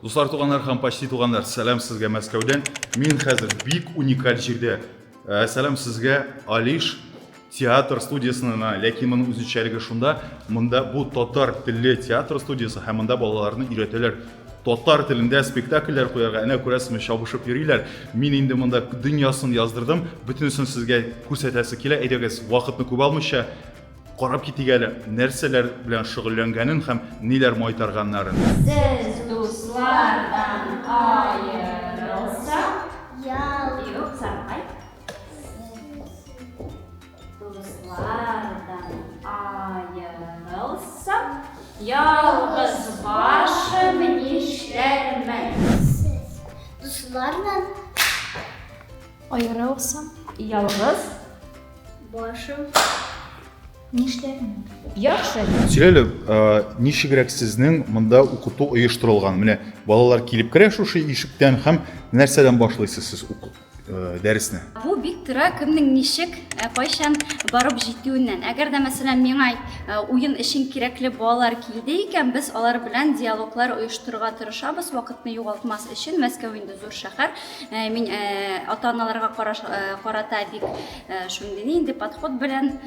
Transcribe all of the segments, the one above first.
Дуслар туганнар һәм почти туганнар, сәлам сезгә Мәскәүдән. Мин хәзер бик уникаль җирдә. Э, сәлам сезгә, Алиш театр студиясенә, ләкин моның үзенчәлеге шунда, монда бу татар телле театр студиясе һәм монда балаларны өйрәтәләр. Татар телендә спектакльләр куярга, әнә күрәсезме, чабышып йөриләр. Мин инде монда дөньясын яздырдым, бөтенесен сезгә күрсәтәсе килә. Әйдәгез, вакытны күп алмыйча, Карап китик әле, нәрсәләр белән шөгыльләнгәнен һәм ниләр майтарганнарын. Сез дуслардан аерылсак, ял юкса кайт. Дуслардан аерылсак, ялгыз башым нишләрмен? Сез дуслардан Аерылсам. Ялгыз. Башым. Нишләрмен? Яхшы. Сөйләле, ничегрәк сезнең монда укыту оештырылган? Менә балалар килеп керә шушы ишектән һәм нәрсәдән башлыйсыз сез уку дәресне? Бу бик тора кемнең ничек, кайчан барып җитүеннән. Әгәр дә мәсәлән миңа уен өчен кирәкле балалар килде икән, без алар белән диалоглар оештырырга тырышабыз, вакытны югалтмас өчен. Мәскәү инде зур шәһәр. Э, мин э, ата аналарга э, карата бик шундый нинди подход белән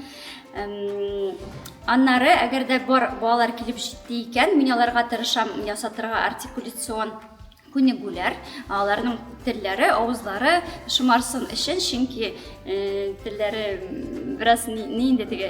аннары әгәр дә бар балалар килеп җитте икән мин аларга тырышам ясатырга артикуляцион күнегүләр аларның телләре авызлары шомарсын өчен чөнки телләре бераз нинди теге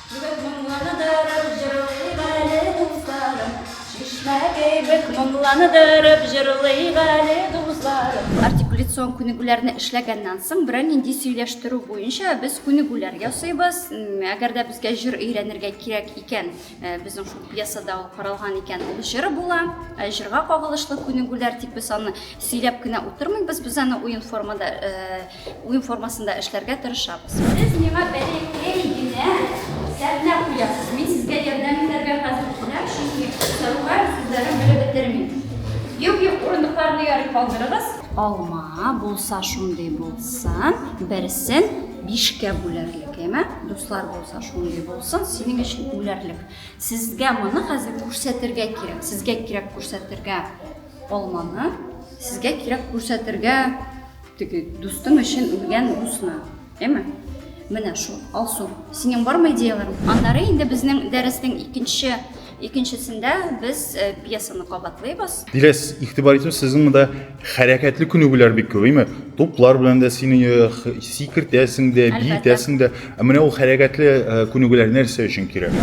Кибек моңланыдырып җырлыйк әле, дузларым. Чишмә кибек моңланыдырып җырлыйк әле, дузларым. Артикуляцион күнегүләрне эшләгәннән соң, берәр нинди сөйләштерү буенча без күнегүләр ясыйбыз. Әгәр дә безгә җыр өйрәнергә кирәк икән, безнең шул пьесада ул каралган икән, ул җыр була. Җырга кагылышлы күнегүләр, тик без аны сөйләп кенә утырмыйбыз, без аны уен формада Уен формасында эшләргә тырышабыз. Сез миңа бәләкәй генә сәхнә куясыз. Мин сезгә ярдәм итәргә хәзер киләм, чөнки Саруга сүзләрен белеп бетермим. Юк, юк, урындыкларны ярый калдырыгыз. Алма булса шундый булсын, берсен бишкә бүләрлек, яме? Дуслар булса шундый булсын, синең өчен үләрлек. Сезгә моны хәзер күрсәтергә кирәк. Сезгә кирәк күрсәтергә алманы, сезгә кирәк күрсәтергә Теге дустың өчен үлгән дусына, әйме? Менә шул, Алсу, синең бармы идеяларың? Аннары инде безнең дәрестең икенче икенчесендә без э, пьесаны кабатлыйбыз. Диләс, игътибар итү сезнең монда хәрәкәтле күнегүләр бик күп, әйме? Туплар белән дә сине э, сикертәсең дә, биетәсең дә. Ә менә ул хәрәкәтле э, күнегүләр нәрсә өчен кирәк?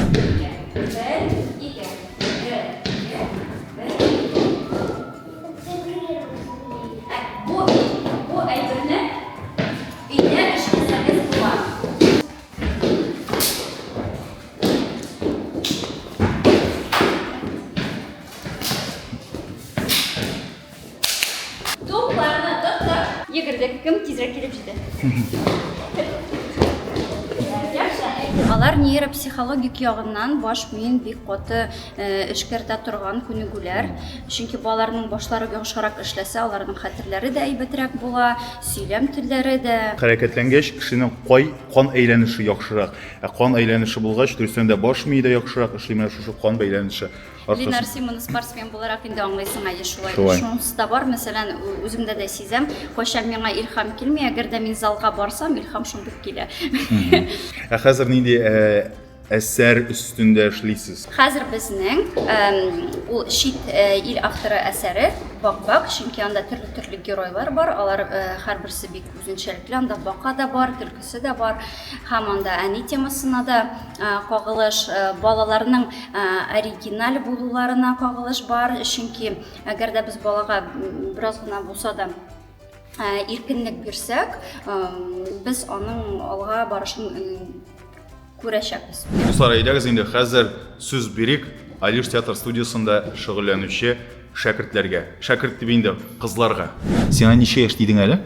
Йөгердек, кем тизрәк килеп җитә. Алар нейропсихологик ягыннан баш миен бик каты эшкәртә торган күнегүләр. Чөнки балаларның башлары йомшарак эшләсә, аларның хәтерләре дә әйбәтрәк була, сөйләм телләре дә. Хәрәкәтләнгәч, кешенең кай, кан әйләнеше яхшырак. Ә кан әйләнеше булгач, дөрестән дә баш мие дә яхшырак эшли, менә шушы кан бәйләнеше аркасында. Ленар, син моны спортсмен буларак инде аңлыйсың әле шулай. Шулай. Шунысы да бар, мәсәлән, үземдә дә сизәм, кайчан миңа илһам килми, әгәр дә мин залга барсам, илһам шундук килә. Ә хәзер нинди Әсәр өстендә эшлисез. Хәзер безнең ул чит ил авторы әсәре Бак-бак, чөнки анда төрле-төрле геройлар бар, алар һәрберсе бик үзенчәлекле, анда бака да бар, төлкесе дә бар, һәм анда әни темасына да кагылыш, балаларның оригиналь булуларына кагылыш бар, чөнки әгәр дә без балага бераз гына булса да иркенлек бирсәк, без аның алга барышын күрәчәкбез. Дуслар, әйдәгез инде хәзер сүз бирик Алиш театр студиясендә шөгыльләнүче шәкертләргә. Шәкерт дип инде кызларга. Сиңа ничә яшь дидең әле?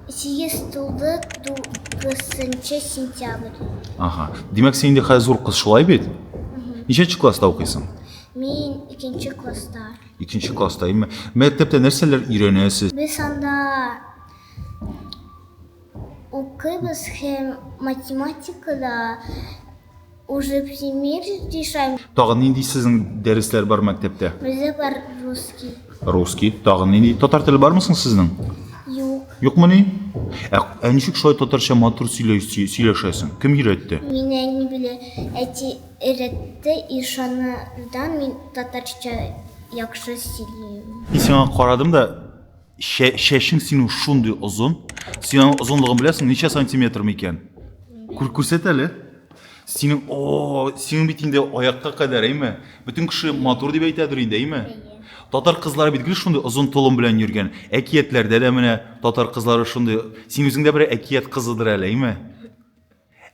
Сигез тулды, тугызынчы сентябрь. Ага. Димәк, син инде хәзер зур кыз шулай бит? Ничәнче класста укыйсың? Мин икенче класста. Икенче класста, әйме? Мәктәптә нәрсәләр өйрәнәсез? Без анда укыйбыз һәм математикада уже пример решаем. Тагын нинди сезнең дәресләр бар мәктәптә? Бездә бар русский. Русский, тагын нинди? Татар теле бармы соң сезнең? Юк. Юкмы ни? Ә, ә ничек шулай татарча матур сөйләшәсең? Кем өйрәтте? Мин әни белән әти Өйрәтте ишаны да мин татарча яхшы сөйлим. Мин сиңа карадым да, чәчең синең шундый озын. Син аның озынлыгын беләсең, ничә сантиметр микән? Күр, күрсәт әле. Синең, о, синең бит инде аякка кадәр, әйме? Бөтен кеше матур дип әйтәдер инде, әйме? Татар кызлары бит гел шундый озын толым белән йөргән. Әкиятләрдә дә менә татар кызлары шундый. Син үзең дә бер әкият кызыдыр әле, әйме?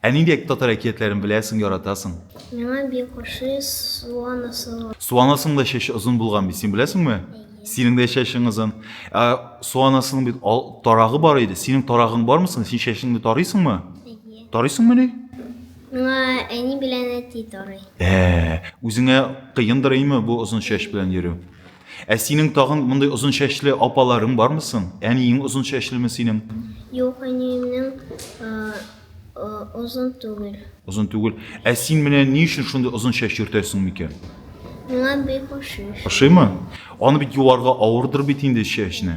Ә нинди татар әкиятләрен беләсең, яратасың? Миңа бик ошый Суан асылы. Суан асының да чәче озын булган бит, син беләсеңме? Әйе. Синең дә чәчең озын. Ә Суан асының бит ал, тарагы бар иде. Синең тарагың бармы соң? Син чәчеңне тарыйсыңмы? Әйе. Тарыйсыңмы ни? Миңа әни белән әти тарый. Ә, үзеңә кыендыр име бу озын чәч белән йөрү? Ә синең тагын мондый озын чәчле апаларың бармы соң? Әниең озын чәчлеме синең? Юк, әниемнең озын түгел. Озын түгел. Ә син менә ни өчен шундый озын чәч йөртәсең микән? Миңа бик ошый. Ошыймы? Аны бит юарга авырдыр бит инде чәчне.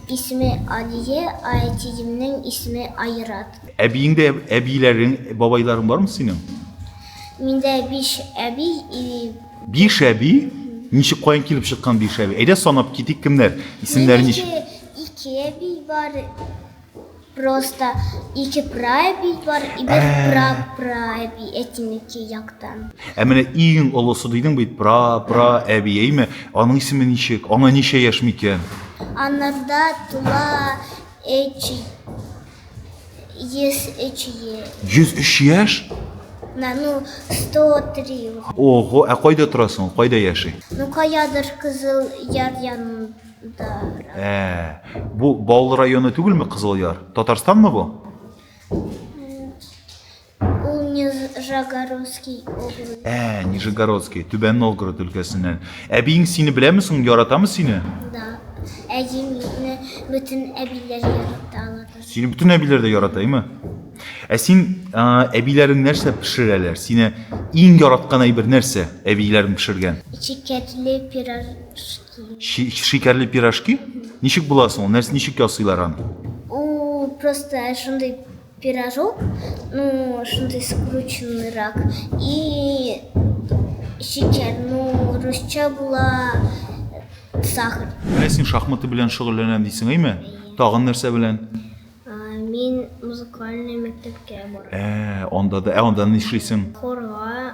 Исеме Алия, ә әтиемнең исеме Айрат. Әбиеңдә әбиләрең, бабайларың бармы синең? Миндә биш әби и Биш әби? Ничек, каян килеп чыккан биш әби? Әйдә санап китик, кемнәр? Исемнәре ничек? Миндә ике әби бар, Просто ике прабить бар и бер Ә. прапрабий әтинеке яктан. Ә менә иң олысы дидең бит, пра, пра, әби, әйме? Аның исеме ничек? Аңа ничә яшь микән? Анарда тула эч ес эч е. 103 яшь? На, ну, 103. Ого, ә кайда торасың? Кайда яши? Ну, каядыр кызыл яр янында. Да. Ә, бу Баулы районы түгелме Кызыл Яр? Татарстанмы бу? Ул Нижегородский область. Ә, Нижегородский, Түбән Новгород өлкәсеннән. Әбиең сине беләме соң, яратамы сине? Да. Әҗимне бөтен әбиләр ярата алар. Сине бөтен әбиләр дә ярата, әйме? Ә син ә, әбиләрең нәрсә пешерәләр? Сине иң яраткан әйбер нәрсә әбиләрең пешергән? Чикәтле пирожки. Шикәрле пирожки? Ничек була соң ул? Нәрсә ничек ясыйлар аны? Ул просто шундый пирожок, ну, шундый скрученныйрак. И шикәр, ну, русча була сахар. Менә син шахматы белән шөгыльләнәм дисең, әйме? Тагын нәрсә белән? Мин музыкальный мәктәпкә барам. Ә, анда да, ә анда нишлисең? Хорга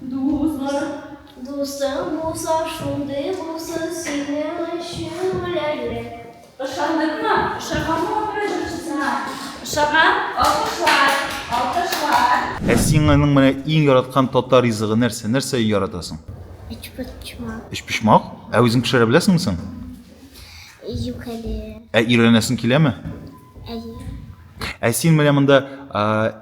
Дуслар, дусың булса, шундый булсын синең өчен үләрлек. Ышандыкмы? Ошаганмы опера җырчысына? Ошаган? Алкышлар! Алкышлар! Ә син аның менә иң яраткан татар ризыгы нәрсә? Нәрсә яратасың? Өчпочмак. Өчпочмак? Ә үзең пешерә беләсеңме соң? Юк әле. Ә өйрәнәсең киләме? Әйе. Ә син менә монда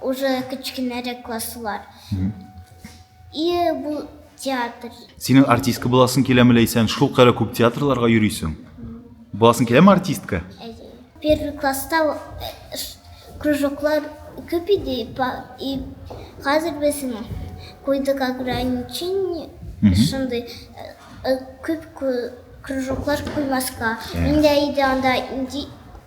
Уже кечкенәрәк класслар. И бу театр. Синең артистка буласың киләме ләйсән? Шул кадәр күп театрларга йөрисең. Буласың киләме артистка? Первый класста э, кружоклар күп иде, и хәзер без куйдык ограничение, шундый э, э, күп кружоклар куймаска. Мин дә иде анда инди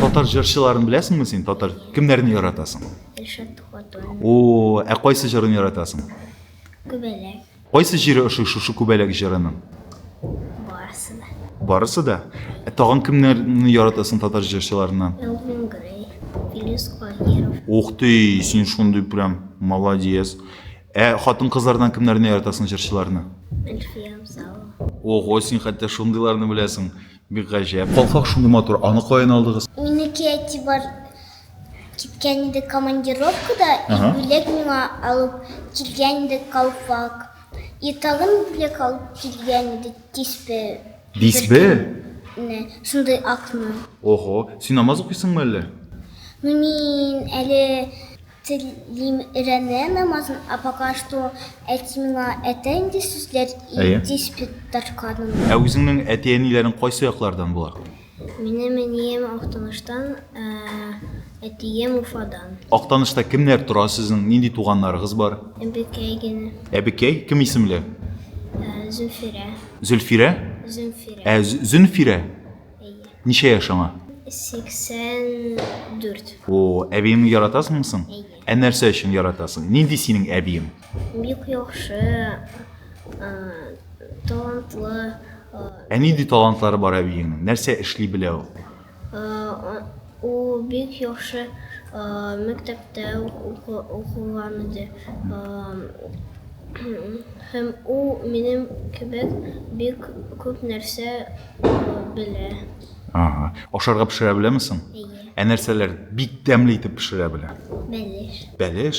татар җырчыларын беләсеңме син татар кемнәрне яратасың ришат хатын о ә кайсы җырын яратасың күбәләк кайсы җире ошый шушы күбәләк җырының барысы да барысы да ә тагын кемнәрне яратасың татар җырчыларыннан элвин грей филис каһиров ух ты син шундый прям молодец Ә хатын-кызлардан кемнәрне яратасың җырчыларны? Эльфия Абзалова. Ого, син хәтта шундыйларны беләсең. Бик гаҗәп. Калфак шундый матур. Аны каян алдыгыз? Минеке әтибар киткән иде командировкада, и бүләк миңа алып килгән иде калфак. И тагын бүләк алып килгән иде тиспе. Дисбе? Не, шундый акны. Ого, син намаз укыйсыңмы әллә? Ну мин әле Телим өйрәнә намазын, а пока что әти миңа әйтә инде сүзләр Әйе. и диспетарканың. Ә үзеңнең әти-әниләрең кайсы яклардан болар? Минем әнием Актаныштан, ә әтием Уфадан. Актанышта кемнәр тора сезнең, нинди туганнарыгыз бар? Әбекәй генә, Әбекәй, кем исемле? ә, Зөфирә, Зөлфирә? Зөфирә. Ә З- Зөнфирә? Әйе. Ничә яшь аңа? 84. О, әбиеңне яратасыңмы соң? Әйе. Ә нәрсә өчен яратасың? Нинди синең әбиең? Бик яхшы, а, талантлы, а, Ә нинди талантлары бар әбиеңнең? Нәрсә эшли белә ул? а, Ул бик яхшы мәктәптә укыган иде. Һәм ул минем кебек бик күп нәрсә белә. Ага. Ашарга пешерә беләме соң? Әйе. Ә нәрсәләр бик тәмле итеп пешерә белә? Бәлеш. Бәлеш?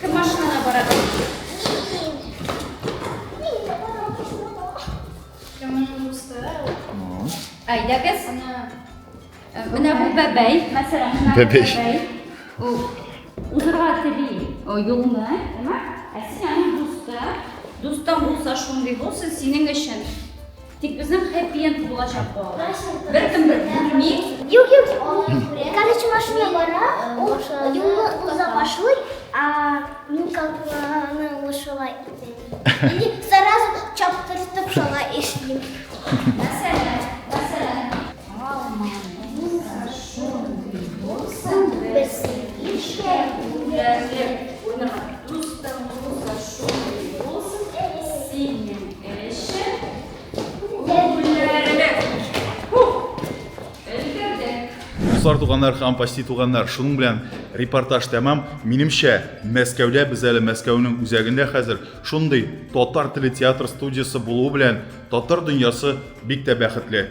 Кем машинада бара? Әйдәгез. Менә бу бәбәй, мәсәлән, менә бәбәй. Ул узырга тели юлны, әмма ә син аны дуста, дустан булса шундый булсын, синең өчен Тик безнең хэппи энд булачак бу. Беркем бер күрми. Юк, юк. Короче, машина бара, ул юлны уза башлый, а мин калканы ул шулай итә. Или сразу чаптыртып шулай эшлим. Мәсәлән, мәсәлән. Дуслар, туганнар һәм почти туганнар, шуның белән репортаж тәмам. Минемчә, Мәскәүдә без әле Мәскәүнең үзәгендә хәзер шундый татар теле театр студиясе булуы белән татар дөньясы бик тә бәхетле.